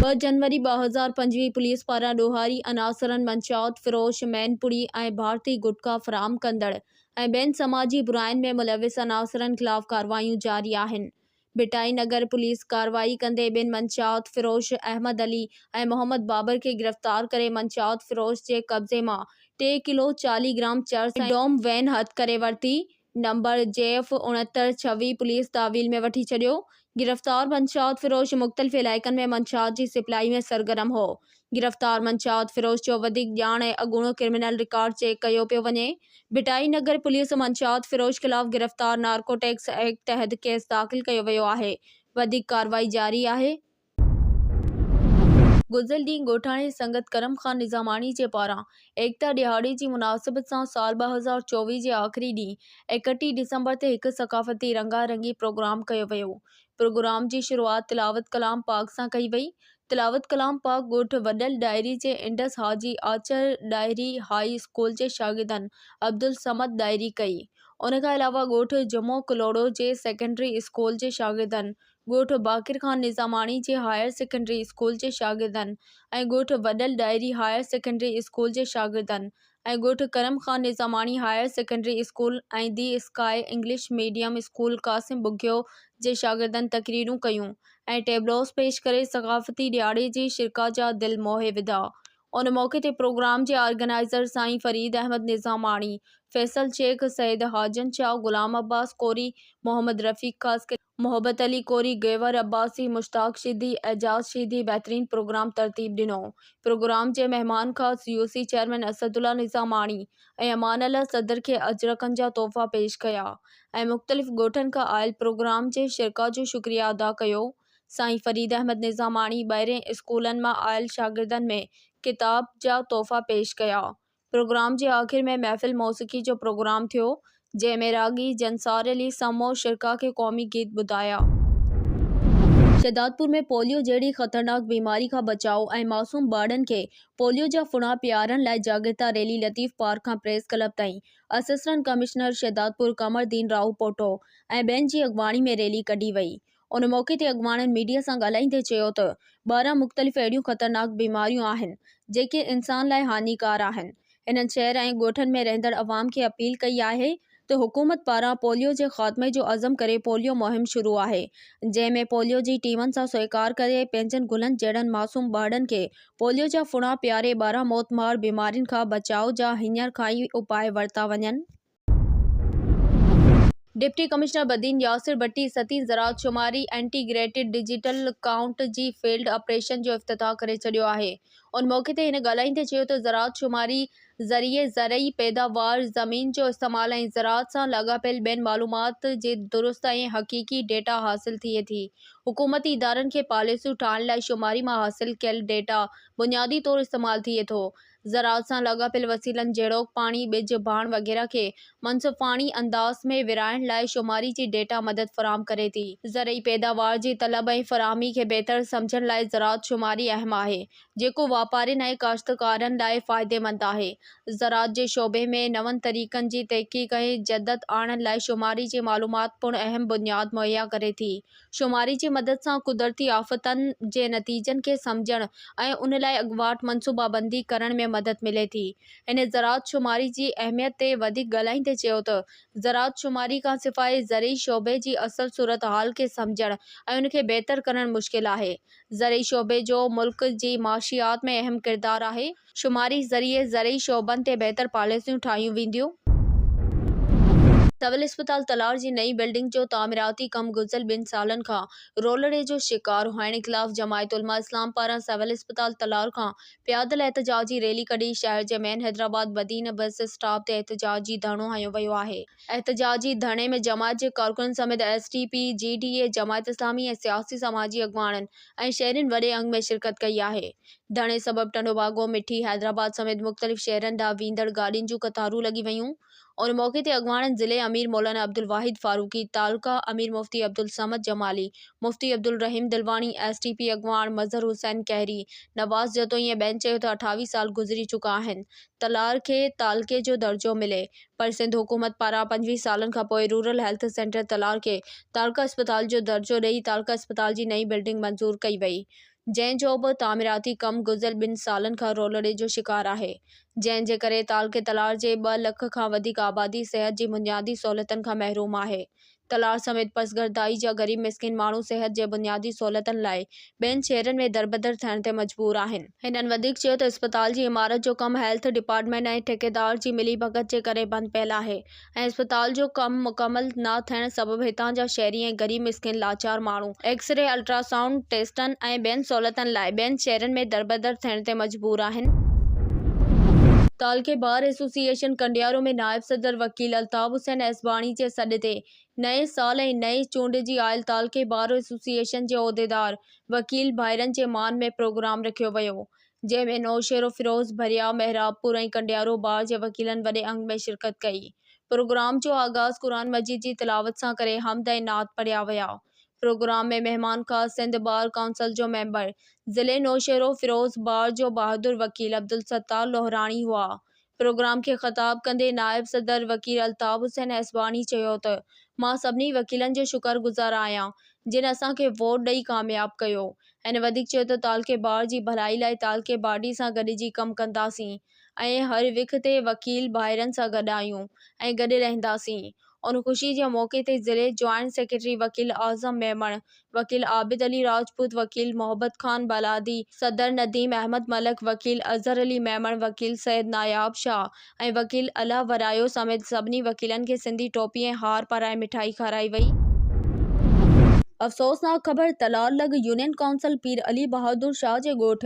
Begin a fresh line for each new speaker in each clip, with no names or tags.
ٻه جنوري ٻه هزار پنجويهه پوليس پاران ڏوهاري عناصرن منشيات فروش، مين پوري ۽ ڀارتي گٽڪا فراهم ڪندڙ ۽ ٻين سماجي براين ۾ ملوث عناصرن خلاف ڪارروايون جاري آهن. ڀٽائي نگر پوليس ڪارروائي ڪندي ٻن منشيات فروش احمد علي ۽ محمد بابر کي گرفتار ڪري منشيات فروش جي قبضي مان ٽي ڪلو چاليهه گرام چرس ۽ ڊوم وين هٿ ڪري ورتي نمبر جيف اڻهتر ڇويهه پوليس تحويل ۾ وٺي ڇڏيو گرفتار منشيات فروش مختلف علائقن ۾ منشيات جي سپلائي ۾ سرگرم هو گرفتار منشيات فروش جو وڌيڪ ڄاڻ ۽ اڳوڻو ڪرمنل رڪارڊ چيڪ ڪيو پيو وڃي، ڀٽائي نگر پوليس منشيات فروش خلاف گرفتار نارڪوٽڪس ايڪٽ تحت ڪيس داخل ڪيو ويو آهي، وڌيڪ ڪارروائي جاري آهي. گذريل ڏينهن ڳوٺاڻي سنگت ڪرم خان نظاماڻي جي پاران ايڪتا ڏهاڙي جي مناسبت سان سال ٻه هزار چوويهه جي آخري ڏينهن اڪٽيهه ڊسمبر تي هڪ ثقافتي رنگا رنگي پروگرام ڪيو ويو پروگرام جي شروعات تلاوت ڪلام پاڪ سان ڪئي وئي تلاوت ڪلام پاڪ ڳوٺ وڏل ڏاهري جي انڊس حاجي آچر ڏاهري هاء اسڪول جي شاگردن عبدالصمد ڏاهري ڪئي ان کان علاوه ڳوٺ جمعو ڪلهوڙو جي سيڪنڊري اسڪول جي شاگردن ڳوٺ باقر خان نظاماڻي جي هائر سيڪنڊري اسڪول جي شاگردن ۽ ڳوٺ Wadal Dahri higher secondary school جي شاگردن ۽ ڳوٺ Karam Khan Nizamani higher secondary school ۽ the sky English medium school Qasim Bughio جي شاگردن تقريرون ڪيون ۽ ٽيبلوز پيش ڪري ثقافتي ڏهاڙي جي شرڪاء جا دل موهي وڌا ان موقعي تي پروگرام جي آرگنائيزر سائين فريد احمد نظاماڻي، فيصل شيخ، سيد حاجن شاهه، غلام عباس ڪوري، محمد رفيق خاصخيلي. محبت علي ڪوري، گيوهر عباسي، مشتاق شيدي، اعجاز شيدي بهترين پروگرام ترتيب ڏنو. پروگرام جي مهمان خاص U C chairman Asadullah Nizamani ۽ Amanullah صدر کي اجرڪن جا تحفا پيش ڪيا ۽ مختلف ڳوٺن کان آيل پروگرام جي شرڪاء جو شڪريه ادا ڪيو. سائين فريد احمد نظاماڻي ٻاهرين اسڪولن مان آيل شاگردن ۾ ڪتاب جا تحفا پيش ڪيا. پروگرام جي آخر ۾ محفل موسيقي جو پروگرام ٿيو، جنهن ۾ راڳي جنسار علي سمعو شرڪاء کي قومي گيت ٻڌايا. شهدادپور ۾ پوليو جهڙي خطرناڪ بيماري کان بچاء ۽ معصوم ٻارڙن کي پوليو جا ڦڻا پيارڻ لاء جاڳرتا ريلي لطيف پارڪ کان پريس ڪلب تائين اسسٽنٽ ڪمشنر شهدادپور قمر الدين راهوپوٽو ۽ ٻين جي اڳواڻي ۾ ريلي ڪڍي وئي ان موقعي تي اڳواڻن ميڊيا سان ڳالهائيندي چيو ته ٻارهن مختلف اهڙيون خطرناڪ بيماريون آهن جيڪي انسان لاء هاڃيڪار آهن، هنن شهر ۽ ڳوٺن ۾ رهندڙ عوام کي اپيل ڪئي آهي ته حڪومت پاران پوليو جي خاتمي جو عزم ڪري پوليو مهم شروع آهي جنهن ۾ پوليو جي ٽيمن سان سهڪار ڪري پنهنجن گلن جهڙن معصوم ٻارڙن کي پوليو جا ڦڻا پياري ٻارهن موتمار بيمارين کان بچاء جا هينئر کان ئي اپاء ورتا وڃن. ڊپٽي ڪمشنر بدين ياسر بٽي ستين زراعت شماري انٽي گريٽيڊ ڊجيٽل ڪائونٽ جي فيلڊ آپريشن جو افتتاح ڪري ڇڏيو آهي ان موقعي تي هن ڳالهائيندي چيو ته زراعت شماري ذريعي زرعي پيداوار زمين جو استعمال ۽ زراعت سان لاڳاپيل ٻين معلومات جي درست ۽ حقيقي ڊيٽا حاصل ٿئي ٿي حڪومتي ادارن کي پاليسيون ٺاهڻ لاء شماري مان حاصل ڪيل ڊيٽا بنيادي طور استعمال ٿئي ٿو زراعت سان لاڳاپيل وسيلن جهڙوڪ پاڻي، ٻج، ڀاڻ وغيره کي منصفاڻي انداز ۾ ورهائڻ لاء شماري جي ڊيٽا مدد فراهم ڪري ٿي. زرعي پيداوار جي طلب ۽ فراهمي کي بهتر سمجهڻ لاء زراعت شماري اهم آهي، جيڪو واپارين ۽ ڪاشتڪارن لاء فائديمند آهي. زراعت جي شعبي ۾ نون طريقن جي تحقيق ۽ جدت آڻڻ لاء شماري جي معلومات پڻ اهم بنياد مهيا ڪري ٿي. شماري جي مدد سان قدرتي آفتن جي نتيجن کي سمجهڻ ۽ ان لاء اڳواٽ منصوبابندي ڪرڻ ۾ مدد ملي ٿي. هن زراعت شماري جي اهميت تي وڌيڪ ڳالهائيندي چيو ته زراعت شماري کانسواء زرعي شعبي جي اصل صورتحال کي سمجهڻ ۽ ان کي بهتر ڪرڻ مشڪل آهي. زرعي شعبي جو ملڪ جي معاشيات ۾ اهم ڪردار آهي. شماري ذريعي زرعي شعبن تي بهتر پاليسيون ٺاهيون وينديون. سول اسپتال تلار جي نئين بلڊنگ جو تعميراتي ڪم گذريل ٻن سالن کان رولڙي جو شڪار هئڻ خلاف جماعت علماء اسلام پاران سول اسپتال تلار کان پيادل احتجاج جي ريلي ڪڍي شهر جي main Hyderabad Badin bus stop تي احتجاجي ڌرڻو هنيو ويو آهي. احتجاجي ڌرڻي ۾ جماعت جي ڪارڪنن سميت S T P, G D A, Jamaat Islami ۽ سياسي سماجي اڳواڻن ۽ شهرين وڏي انگ ۾ شرڪت ڪئي آهي. ڌڻي سبب ٽنڊو باگو، مٺي، حيدرآباد سميت مختلف شهرن ڏانهن ويندڙ گاڏين جون قطارون لڳي ويون. ان موقعي تي اڳواڻن ضلعي امير مولانا عبدالواحد فاروقي، تعلقه امير مفتي Abdul Samad Jamali, Mufti Abdulrahim Dilwani, S T P اڳواڻ مظهر حسين کهري، نواز جتوئي ۽ ٻين چيو ته اٺاويهه سال گذري چڪا آهن ته لار کي تعلقي جو درجو ملي پر سنڌ حڪومت پاران پنجويهه سالن کانپوء رورل هيلٿ سينٽر تلار کي تعلقه اسپتال جو درجو ڏئي تعلقه اسپتال جي نئين بلڊنگ منظور ڪئي وئي جنهن جو به تعميراتي ڪم گذريل ٻن سالن کان رولڙي جو شڪار آهي، جنهن جي ڪري تعلقي تلار جي ٻه لک کان وڌيڪ آبادي صحت جي بنيادي سهولتن کان محروم آهي. تلار سميت پسگردائي جا غريب مسڪين ماڻهو صحت جي بنيادي سهولتن لاء ٻين شهرن ۾ دربدر ٿيڻ تي مجبور آهن. هنن وڌيڪ چيو ته اسپتال جي عمارت جو ڪم هيلٿ ڊپارٽمينٽ ۽ ٺيڪيدار جي ملي ڀڳت جي ڪري بند پيل آهي، ۽ اسپتال جو ڪم مڪمل نه ٿيڻ سبب هتان جا شهري ۽ غريب مسڪين لاچار ماڻهو ايڪس ري، الٽرا سائونڊ ٽيسٽن ۽ ٻين سهولتن لاء ٻين شهرن ۾ دربدر ٿيڻ تي مجبور آهن. تعلقي بار ايسوسيئيشن ڪنڊيارو ۾ نائب صدر وڪيل الطاف حسين ايسباڻي جي سڏ تي نئين سال ۽ نئين چونڊ جي آيل تعلقي بار ايسوسيئيشن جي عهديدار وڪيل ڀائرن جي مان ۾ پروگرام رکيو ويو جنهن ۾ نوشهروفيروز، ڀريائو، محرابپور ۽ ڪنڊيارو بار جي وڪيلن وڏي انگ ۾ شرڪت ڪئي. پروگرام جو آغاز قرآن مجيد جي تلاوت سان ڪري حمد ۽ نعت پڙهيا ويا. پروگرام ۾ مهمان خاص سنڌ بار ڪائونسل جو ميمبر، ضلعي نوشهروفيروز بار جو بهادر وڪيل عبدالستار لوهراڻي هئا. پروگرام کي خطاب ڪندي نائب صدر وڪيل الطاف حسين ايسواڻي چيو ته مان سڀني وڪيلن جو شڪر گذار آهيان جن اسان کي ووٽ ڏئي ڪامياب ڪيو. هن وڌيڪ چيو ته تعلقي بار جي ڀلائي لاء تعلقي باڊي سان گڏجي ڪم ڪنداسين ۽ هر وک تي وڪيل ڀائرن سان گڏ آهيون ۽ گڏ رهنداسين. ان خوشي جي موقعي تي ضلعي جوائنٽ سيڪريٽري وڪيل اعظم ميمڻ، وڪيل عابد علي راجپوت، وڪيل محبت خان بالادي، صدر نديم احمد ملڪ، وڪيل اظهر علي ميمڻ، وڪيل سيد ناياب شاهه ۽ وڪيل الهه ورايو سميت سڀني وڪيلن کي سنڌي ٽوپي ۽ هار پارائي مٺائي کارائي وئي. افسوسناڪ خبر تلار لڳ يونين ڪائونسل پير علي بهادر شاهه جي ڳوٺ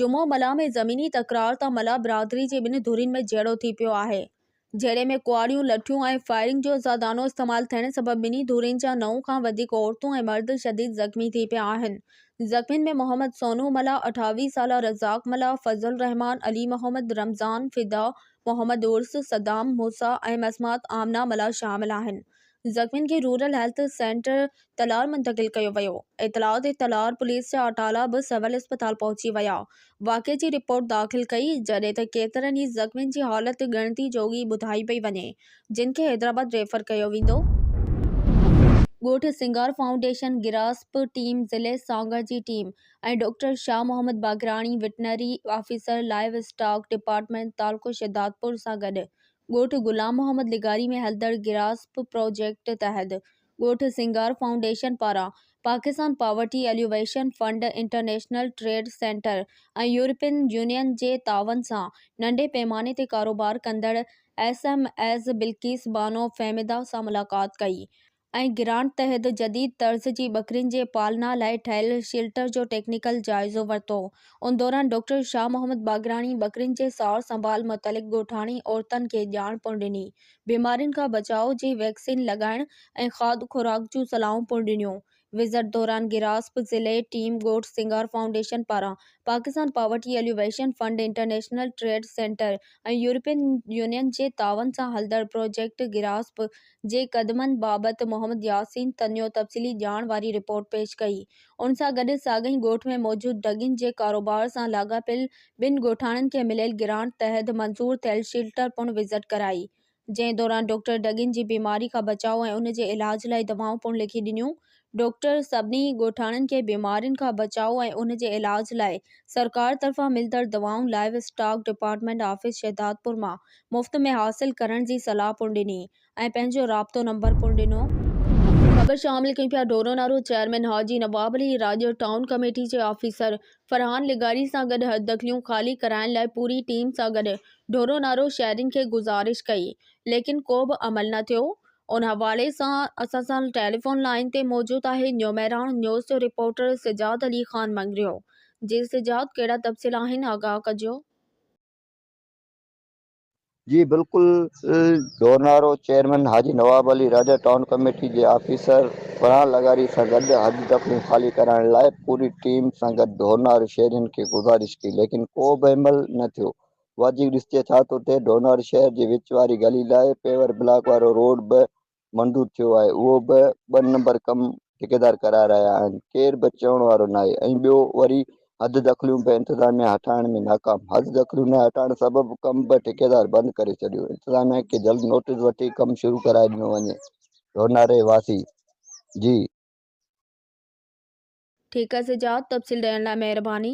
جمعو ملاح ۾ زميني تڪرار تان ملاح برادري جي ٻن ڌرين ۾ جهيڙو ٿي پيو آهي جهيڙي ۾ ڪهاڙيون، لٺيون ۽ فائرنگ جو زيادانو استعمال ٿيڻ سبب ٻنهي ڌرين جا نو کان وڌيڪ عورتون ۽ مرد شديد زخمي ٿي پيا آهن. زخمين ۾ محمد سونو ملاح، اٺاويهه سالا رزاق ملاح، فضل الرحمان، علي محمد، رمضان، فدا، محمد عرس، صدام، موسيٰ ۽ مسمات آمنه ملاح شامل آهن. زخمين کي رورل هيلٿ سينٽر تلوار منتقل ڪيو ويو، اطلاع تي تلوار پوليس جا اٽالا به سول اسپتال پهچي ويا، واقعي جي رپورٽ داخل ڪئي، جڏهن ته ڪيترن ئي زخمين جي حالت ڳڻتي جوڳي ٻڌائي پئي وڃي، جن کي حيدرآباد ريفر ڪيو ويندو. ڳوٺ سنگار فائونڊيشن گراسپ ٽيم، ضلعي سانگهڙ جي team ۽ doctor Shah Muhammad Baqrani veterinary officer livestock department تعلقو شهدادپور سان گڏ ڳوٺ غلام محمد لغاري ۾ هلندڙ گراسپ پراجيڪٽ تحت ڳوٺ سينگار فائونڊيشن پاران Pakistan poverty alleviation fund, international trade centre ۽ European Union جي تعاون سان ننڍي پيماني تي ڪاروبار ڪندڙ S M Es Bilquis Bano Fahmida سان ملاقات ڪئي ۽ ۽ گرانٽ تحت جديد طرز جي ٻڪرين جي پالنا لاء ٺهيل شيلٽر جو ٽيڪنيڪل جائزو ورتو. ان دوران ڊاڪٽر شاهه محمد باگراڻي ٻڪرين جي سار سنڀال متعلق ڳوٺاڻي عورتن کي ڄاڻ پڻ ڏني، بيمارين کان بچاء جي ويڪسين لڳائڻ ۽ کاڌ خوراڪ جون صلاحون پڻ ڏنيون. وزٽ دوران گراسپ ضلعي ٽيم ڳوٺ سنگار فائونڊيشن پاران Pakistan poverty alleviation fund, international trade centre ۽ European Union جي تعاون سان هلندڙ پروجيڪٽ گراسپ جي قدمن بابت محمد ياسين تنيو تفصيلي ڄاڻ واري رپورٽ پيش ڪئي. ان سان گڏ ساڳئي ڳوٺ ۾ موجود ڍڳين جي ڪاروبار سان لاڳاپيل ٻن ڳوٺاڻن کي مليل گرانٽ تحت منظور ٿيل شيلٽر پڻ وزٽ ڪرائي، جنهن دوران ڊاڪٽر ڍڳين جي بيماري کان بچاء ۽ ان جي علاج لاء دوائون پڻ لکي ڏنيون. ڊاڪٽر سڀني ڳوٺاڻن کي بيمارين کان بچاء ۽ ان جي علاج لاء سرڪار طرفان ملندڙ دوائون livestock department office Shahdadpur مان مفت ۾ حاصل ڪرڻ جي صلاح پڻ ڏني ۽ پنهنجو رابطو نمبر پڻ ڏنو. خبر شامل ڪيون پيا Dhoro Naro chairman Haji Nawab Ali Rajo town committee جي آفيسر فرحان لغاري سان گڏ حددخليون خالي ڪرائڻ لاء پوري ٽيم سان گڏ ڍورو نارو شهرين کي گذارش ڪئي ليڪن ڪو به عمل نه ٿيو ان حوالي سان اسان سان ٽيليفون لائين تي موجود آهي نيو مهراڻ نيوز جو رپورٽر سجاد علي خان مڱريو جي سجاد ڪهڙا تفصيل آهن آگاهه ڪجو.
جي بلڪل Dhoronaro chairman Haji Nawab Ali Raja town committee جي آفيسر فرحان لغاري سان گڏ حج دفعون خالي ڪرائڻ لاء پوري ٽيم سان گڏ ڍورنارو شهرين کي گذارش ڪئي ليڪن ڪو به عمل نه ٿيو واجهي ڏسجي ٿا ته اتي ڊونار شهر جي وچ واري گلي لاء پيور بلاڪ وارو روڊ به منظور ٿيو آهي، اهو به ٻه نمبر ڪم ٺيڪيدار ڪرائي رهيا آهن، ڪير به چوڻ وارو ناهي ۽ ٻيو وري حد دخليون به انتظاميا هٽائڻ ۾ ناڪام، حد دخليون نه هٽائڻ سبب ڪم به ٺيڪيدار بند ڪري ڇڏيو، انتظاميا کي جلد نوٽيس وٺي ڪم شروع ڪرائي ڏنو وڃي، ڍوناري واسي جي. ٺيڪس جا تفصيل ڏيڻ لاء
مهرباني.